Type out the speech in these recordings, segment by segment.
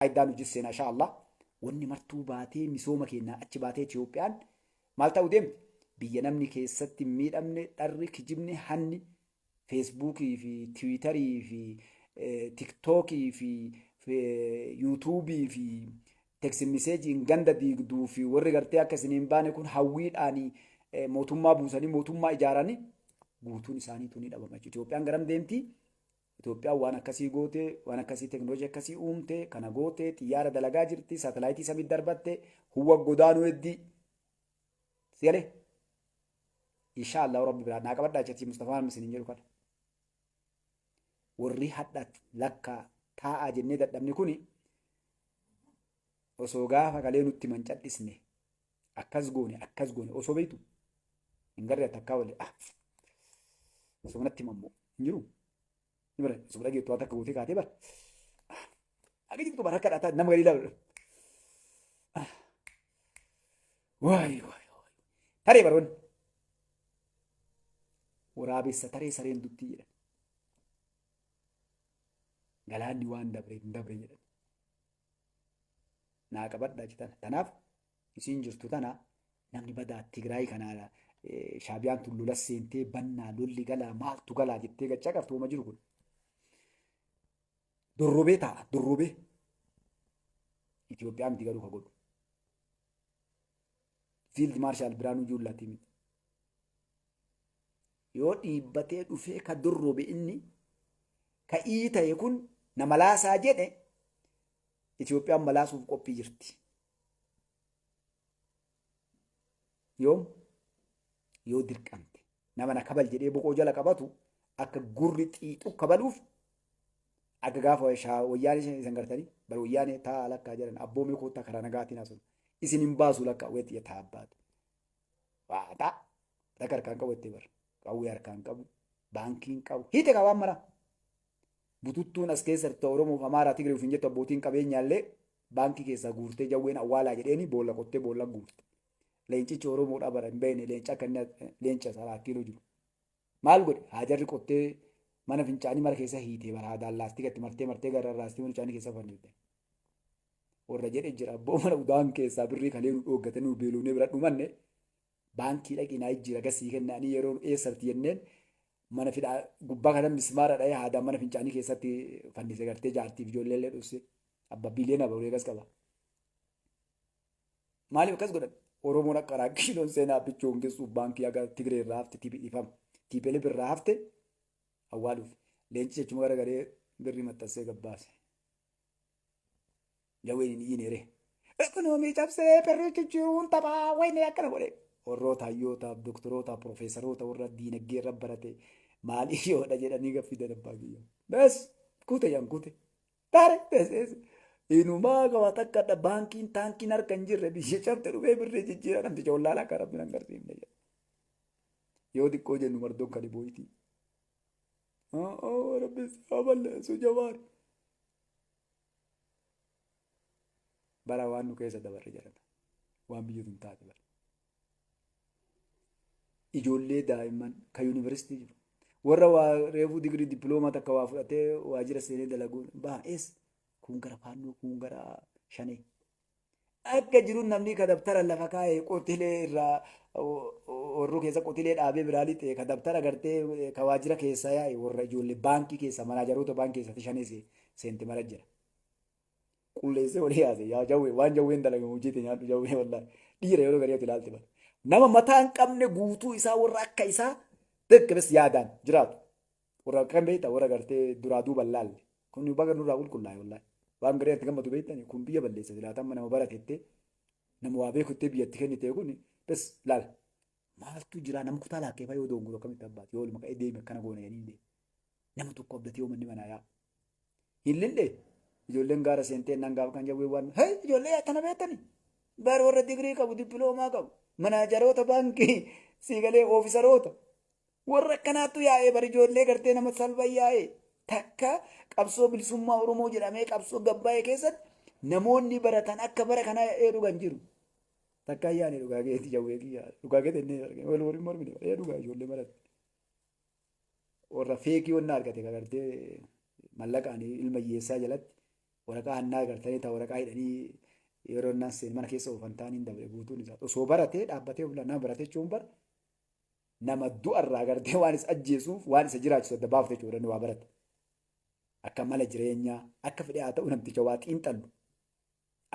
faayidaa nu jisseena insha Allah. Wanni martuu baatee misooma keennaa achi baatee Itiyoophiyaan maal ta'u deemti? Biyya namni keessatti hin miidhamne, dharri, kijibni, hanni feesbuukii fi tiwiitarii fi tiktookii fi yuutuubii fi teksimiseejiin ganda diigduu fi warri gartee akka isin hin baane kun hawwiidhaan mootummaa buusanii mootummaa ijaaranii guutuun isaaniitu ni dhabama jechuudha. Itiyoophiyaan garam deemti? Itoophiyaan waan akkasii goote, waan akkasii teknolojii akkasii uumte, kana goote, xiyyaara dalagaa jirti, saatalaayitii samiitti darbatte, huwwa godaanuu heddi. Si galee? Inshaa Allahu Rabbi biraa naa qabadhaa jecha Mustafaa Maammi isiniin jedhu kana. Warri hadha lakkaa taa'aa jennee dadhabne kuni osoo gaafa kalee nutti himan cadhisne Akkas goone akkas goone osoo beektu hin garree takkaa wali ah osoo natti mammoo hin jiru. Ni bara osoo dhageettu waan takka gootee kaatee bara. Akka jirtu bara akka dhaataa nama galii laalu. Waay waay waay. Taree baroonni. Waraabessa taree sareen duttii jedhan. Galaanni waan dabre hin dabre jedhan. naa qabadha jetan tanaaf isiin jirtu tana namni badaa Tigraay kana shaabiyaan tun lola seentee bannaa lolli galaa maaltu galaa jettee gachaa qabtu wama jiru kun dorrobee taa'a dorrobee Itoophiyaa miti garuu ka godhu fiild maarshaal Biraanuu Juullaatii miti Yoo dhiibbatee dhufee ka durrube inni ka ii ta'e kun na malaasaa jedhe Itoophiyaan malaasuuf qophii jirti. Yoom? Yoo dirqamte. Nama na kabal jedhee boqoo jala qabatu akka gurri xiixu kabaluuf akka gaafa wayyaanee isan gartanii bar wayyaanee taa lakkaa jedhan abboomee koottaa karaa nagaatiin haasofna. Isin hin baasu lakkaa weetti yaa taa abbaatu. Waaxaa. Raga harkaan qabu itti bar. Qawwee harkaan qabu. Baankiin qabu. Hiite qabaan mara. Bututtuun as keessa jirtu Oromoof Amaaraa Tigree ofiin jettu abbootiin qabeenyaallee baankii keessaa guurtee jawween awwaalaa jedheeni boolla qottee boolla guurte. Leencichi Oromoodhaa bara hin beekne leenca akka inni leenca isaa laakkiiloo jiru. Maal godhe? Haajarri qottee mana fincaanii mara keessa hiitee bara haadaan laastika itti martee martee gararraastee mana fincaanii keessa fannifte. Warra jedhe jira abboo mana udaan keessaa birrii kalee nu dhooggate nu beeloonee bira dhumanne baankii dhaqii naa jijjiira gasii kennaanii yeroo nu eessarti jenneen mana fidhaa gubbaa kana mismaara dha'ee haadaan mana fincaanii keessatti fannise gartee jaartiif ijoollee illee dhosse abba biiliyoona barulee gas qaba. Maaliif akkas godhan? Oromoon akka raakkiinoon seenaa abbichuu hungessuuf baankii haga Tigree irraa hafte tibi dhifama. Tiipelif irraa hafte awwaaluuf. Leenci jechuma gara garee birrii maxxansee gabbaase. Jawween hin iyyine ree. Ekonoomii cabsee birrii jijjiiruun taphaa wayinee akkana godhe. Warroota hayyootaaf, doktoroota, profeesaroota warra diinagdee irra barate maaliif yoodha jedhanii gaffii dadabbaa kiyya. Bes kuute yan kuute. Tare teseesi. Inumaa gawa takka dha baankiin taankiin harka hin jirre biyya cabte dhufee birrii jijjiira namticha wallaalaa akka rabbiin hin garsiifne jedha. Yoo xiqqoo jennu mardoon kan ibooyitii. Haa rabbi isaa balleessu jawaar. Bara waan nu keessa dabarre jedhata. Waan biyya tun taate bara. ijoollee daa'imman kan yuunivarsiitii jiru warra waa reefuu digirii dippiloomaa takka waa fudhatee waajjira seenee dalaguun baay'ees kun gara faannoo kun gara shanee akka jiruun namni ka dabtara lafa kaa'ee qotilee irraa warruu keessa qotilee dhaabee biraa lixee ka dabtara gartee ka waajjira keessa yaa'e warra ijoollee baankii keessa manaajaroota baankii keessatti shanee seenti mara jira. qulleessee walii yaase yaa jawwee waan jawween dalage hojii ta'e nyaadhu jawwee wallaahi dhiira yeroo garii ati ilaalte bada nama mataa hin qabne guutuu isaa warra akka isaa beekames yaadaan jiraatu warra kan beekta warra gartee duraa duuba hin laalle kun baga nurraa qulqullaa'e wallaahi waan garii ati gammadu beektani kun biyya balleessa silaataa amma nama baratettee nama waa beekuttee biyyatti kennite kun bes laal maaltu jira nama kutaa laakkee fayoo doonguru akkamitti abbaati yoo olma ka'ee deeme akkana goona jedhanii deeme nama tokko abdatee yoo manni manaa yaa hin lille ijoolleen gaara seentee naan gaafa kan jawwee waan hee ijoollee akkana beektani bar warra digirii qabu dippiloomaa qabu manaajaroota baankii siigalee oofisaroota warra akkanaattu yaa'ee bar ijoollee gartee nama salba yaa'ee takka qabsoo bilisummaa Oromoo jedhamee qabsoo gabbaa'ee keessatti namoonni baratan akka bara kana ee dhugan jiru. Takka ayyaani dhugaa keetti jawwee kiyyaa dhugaa keetti inni argina wal waliin mormine ee dhugaa ijoollee barate. warra feekii wanna argate kagartee mallaqaan ilma hiyyeessaa jalatti waraqaa hannaa agartanii taa waraqaa hidhanii yeroo naan seen mana keessa oofan taan hin dabre guutuun isaa osoo baratee dhaabbatee of nama baratee jechuun bar nama du'arraa agartee waan isa ajjeesuuf waan isa jiraachisu adda baafte jechuudha waa barate akka mala jireenyaa akka fedhe haa ta'u namticha waa xiinxallu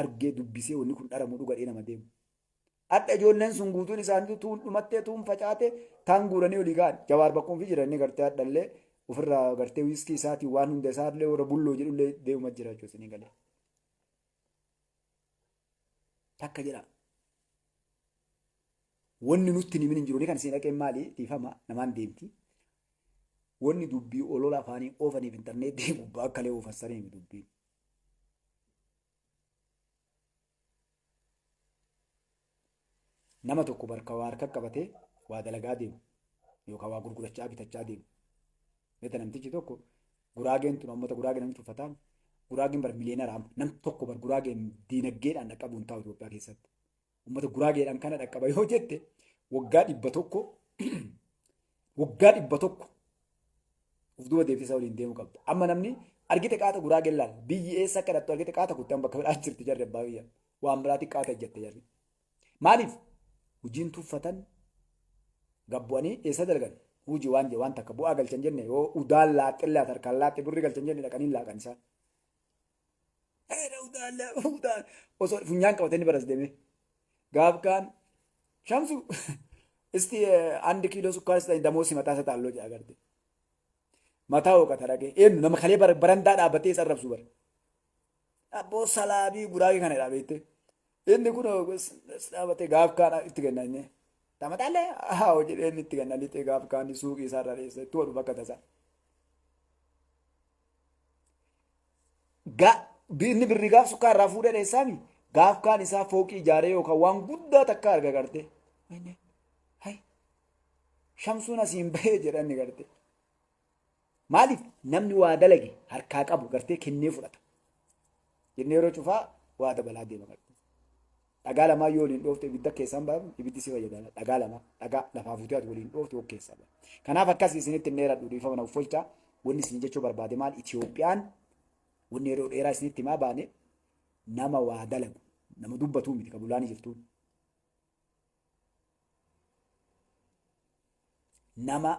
argee dubbisee wanni kun dharamu dhugadhee nama deemu. Hadha ijoolleen sun guutuun isaaniitu tuun dhumattee tuun facaate taan guuranii olii ka'an. Jawaar bakkuma fi jiran inni gartee hadhallee ofirraa gartee wiiskii isaatiin waan hunda isaallee warra bulloo jedhullee deemuma jira jechuudha isinii galee. Takka jira. Wanni nutti himin hin jiru ni kan isin dhaqeen maali dhiifama namaan deemti. Wanni dubbii olola afaanii oofaniif intarneetii gubbaa akkalee oofan saniif dubbiin. nama tokko barka waa harka qabatee waa dalagaa deemu yookaan waa gurgurachaa bitachaa deemu. Beekta namtichi tokko guraageen tun uummata guraagee namni tuffataan guraageen bar miliyeenara amma nam tokko bar guraageen diinagdeedhaan dhaqqabuun taa'u Itoophiyaa keessatti. Uummata guraageedhaan kana dhaqqaba yoo jette waggaa dhibba tokko waggaa dhibba tokko of duuba deebisee isaa waliin deemuu qabda. Amma namni argite qaata guraagee laal biyyi eessa akka dhattu argite qaata kutte amma bakka biraa jirti jarri abbaa biyya waan biraatiin qaata ejjatte jarri. Maaliif hojiin tuffatan gabbu'anii eessa dalgan hojii waan jee waan takka bu'aa galchan jenne yoo udaan laaxxillee harkaan laaxxe birri galchan jenne dhaqanii laaqan isaa. Areera utaa la utaa osoo funyaan qabatee ni baras deemee. Gaaf kaan shamsu isti andi kiiloo sukkaara sitan damoo si mataa sataan loo jedha garte. Mataa hooqata dhagee eenyu nama kalee barandaa dhaabatee isa arrabsu bara. Abboo salaabii guraagee kana dhaa beektee. Inni kun dhaabatee gaaf kaana itti kenna inni. Tamataallee haa hojii inni itti kenna lixee gaaf kaanni suuqii isaarra dheessa itti hodhu bakka tasaa. Inni birri gaaf sukkaa irraa fuudhee dheessaami gaaf kaan isaa fooqii ijaaree yookaan waan guddaa takka arga garte. Shamsuun asiin bahee jedhanni garte. Maaliif namni waa dalage harkaa qabu gartee kennee fudhata. Jennee yeroo cufaa waa dabalaa deema qabdi. Dhagaa lamaa yoo waliin dhoofte ibidda keessaan baafnu ibiddi si fayyadama. Dhagaa lama dhagaa lafaa fuutee ati waliin dhoofte ok keessaa baafna. Kanaaf akkas isinitti hin dheeradhu dhiifama naaf folchaa. Wanni isin jechuu barbaade maal Itiyoophiyaan wanni yeroo dheeraa isinitti himaa baane nama waa dalagu nama dubbatuu miti kabulaanii jirtuun. nama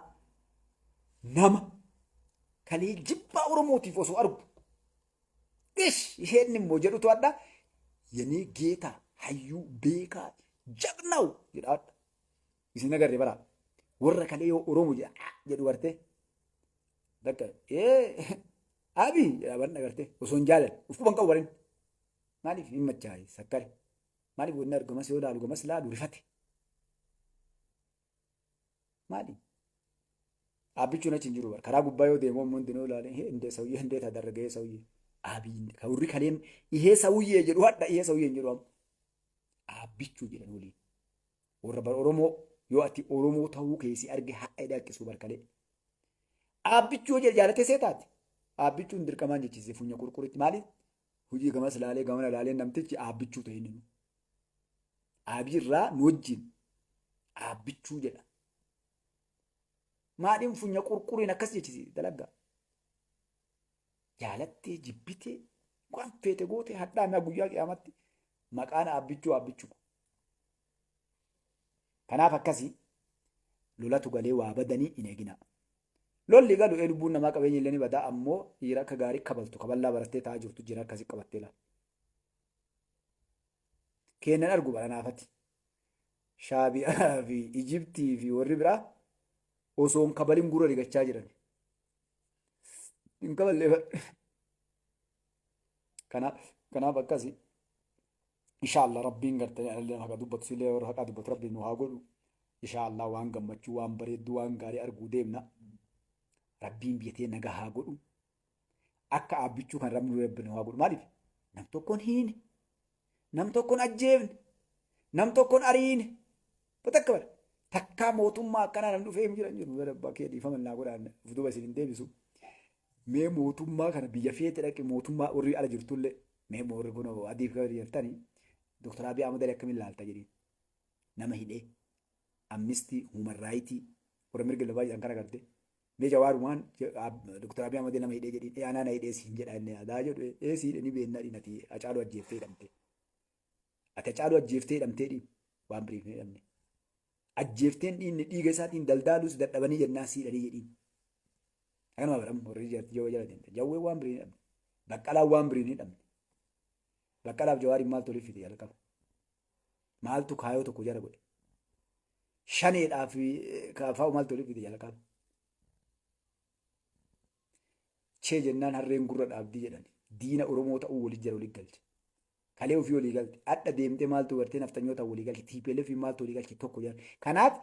nama kanii jibbaa oromootiif osoo argu ish isheen immoo jedhutu adda yenee geeta hayyuu beekaa jagnaw jedha adda isin agarre bara warra kalee yoo oromo jedha "Ah" jedhu garte dakka ee abi jedha barna garte osoo hin jaalan uf quban qabu barin maaliif hin machaa'e sakkare Mali godhina ergamas yoo laalu gamas laalu rifate. Mali? Aabbichuun achi hin jiru bara. Karaa gubbaa yoo deemu ammoo hundinuu ilaale hindee sawyee hindee taa dargagee sawyee. Aabii hindee. Ka warri kaleen ihee sawyee jedhu hadha ihee sawyee hin jedhu amma. Aabbichuu jedhan waliin. Warra bara Oromoo yoo ati Oromoo ta'uu keessi arge hadha hidhaa akkisuu barkalee. Aabbichuu yoo jedhe jaalatee see taate. Aabbichuun dirqamaan jechisiise funya qurquritti maaliif? Hojii gamas laalee gamana laalee namtichi aabbichuu ta'e inni immoo. Aabii irraa nu wajjin aabbichuu jedha. Maadhiin funya qurquriin akkas jechisi dalagaa. Jaalattee jibbitee waan feete goote hadhaa mi'a guyyaa qiyaamatti maqaan aabbichuu aabbichuu. Kanaaf akkasii lolatu galee waa badanii hin eeginaa. Lolli galu ee lubbuun namaa qabeenyi illee ni badaa ammoo dhiira akka gaarii kabaltu kaballaa barattee taa'aa jirtu jira akkasi qabattee laal. Keennan argu badhanaafati. Shaabiyaa fi Ijibtii fi warri biraa osoo hin kabalin gurra rigachaa jiran. Hin kaballee Kanaaf akkasi. inshallah rabbiin gartanii analleen haqa dubbatu sillee warra haqaa dubbatu rabbiin nu haa godhu inshallah waan gammachuu waan bareedduu waan gaarii arguu deemna rabbiin biyya tee nagaa haa godhu akka aabbichuu kan rabbiin rabbi nu haa godhu maaliif nam tokkoon hiine nam tokkoon ajjeefne nam tokkoon ariine batakka bara takkaa mootummaa akkanaa namni dhufee hin jiran jiru bara abbaa kee dhiifama naa godhaan of duuba isin hin deebisu mee mootummaa kana biyya feete dhaqi mootummaa warri ala jirtullee Mee boorri kun adiif gabri jirtani Dr. Abiy Ahmed Ali akkamiin laalta jedhiin. Nama hidhee amnistii human raayitii warra mirga lafaa jedhan kana garte. Mee jawaarumaan Dr. Abiy Ahmed nama hidhee jedhiin aanaa na hidhee siin jedha inni adaa jedhu ee sii hidhe ni beennaa dhiin ati acaaluu ajjeeftee hidhamte. Ati acaaluu ajjeeftee hidhamtee dhiin waan biriif hin hidhamne. ajjeefteen dhiinni dhiiga isaatiin daldaaluus dadhabanii jennaa sii dhanii jedhiin. Akkanuma bara warri jaartii jawwee jala deemte. Jawwee waan birii ni dhabne. Baqqalaan waan birii ni dhabne. Baqqalaaf jawaariin maaltu waliif fide jalqaba. Maaltu kaayoo tokko jara godhe. Shaneedhaaf kaafaa maaltu waliif fide jalqaba. Chee jennaan harreen gurra dhaabdii jedhani. Diina Oromoo ta'uu waliin jira waliin galche. Kalee ofii walii galte. Adha deemtee maaltu gartee nafxanyoota walii galche. TPLF maaltu walii galche tokko jedhan. Kanaaf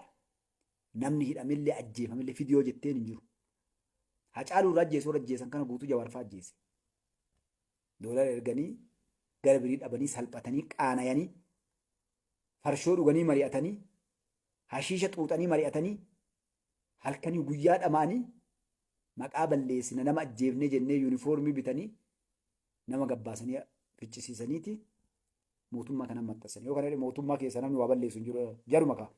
namni hidhamillee ajjeefamillee fidiyoo jetteen hin jiru. Hacaaluu irraa ajjeesuu irra ajjeesan kana guutuu jawaarfaa ajjeese. Doolara erganii gara birii dhabanii salphatanii qaanayanii farshoo dhuganii mari'atanii hashiisha xuuxanii mari'atanii halkanii guyyaa dhamaanii maqaa balleessina nama ajjeefnee jennee yuunifoormii bitanii nama gabbaasanii ficcisiisaniiti mootummaa kana maxxansanii yoo kana mootummaa keessa namni waa balleessu hin jiru jaruma kaa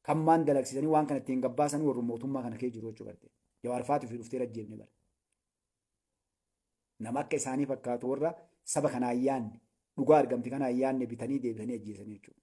kan maan dalagsiisanii waan kana ittiin gabbaasan warru mootummaa kana kee jiru jechuu barte jawaarfaatu fi dhuftee ajjeefne bara nama akka isaanii fakkaatu warra saba kana ayyaanne dhugaa argamte kana ayyaanne bitanii deebisanii ajjeesanii jechuudha.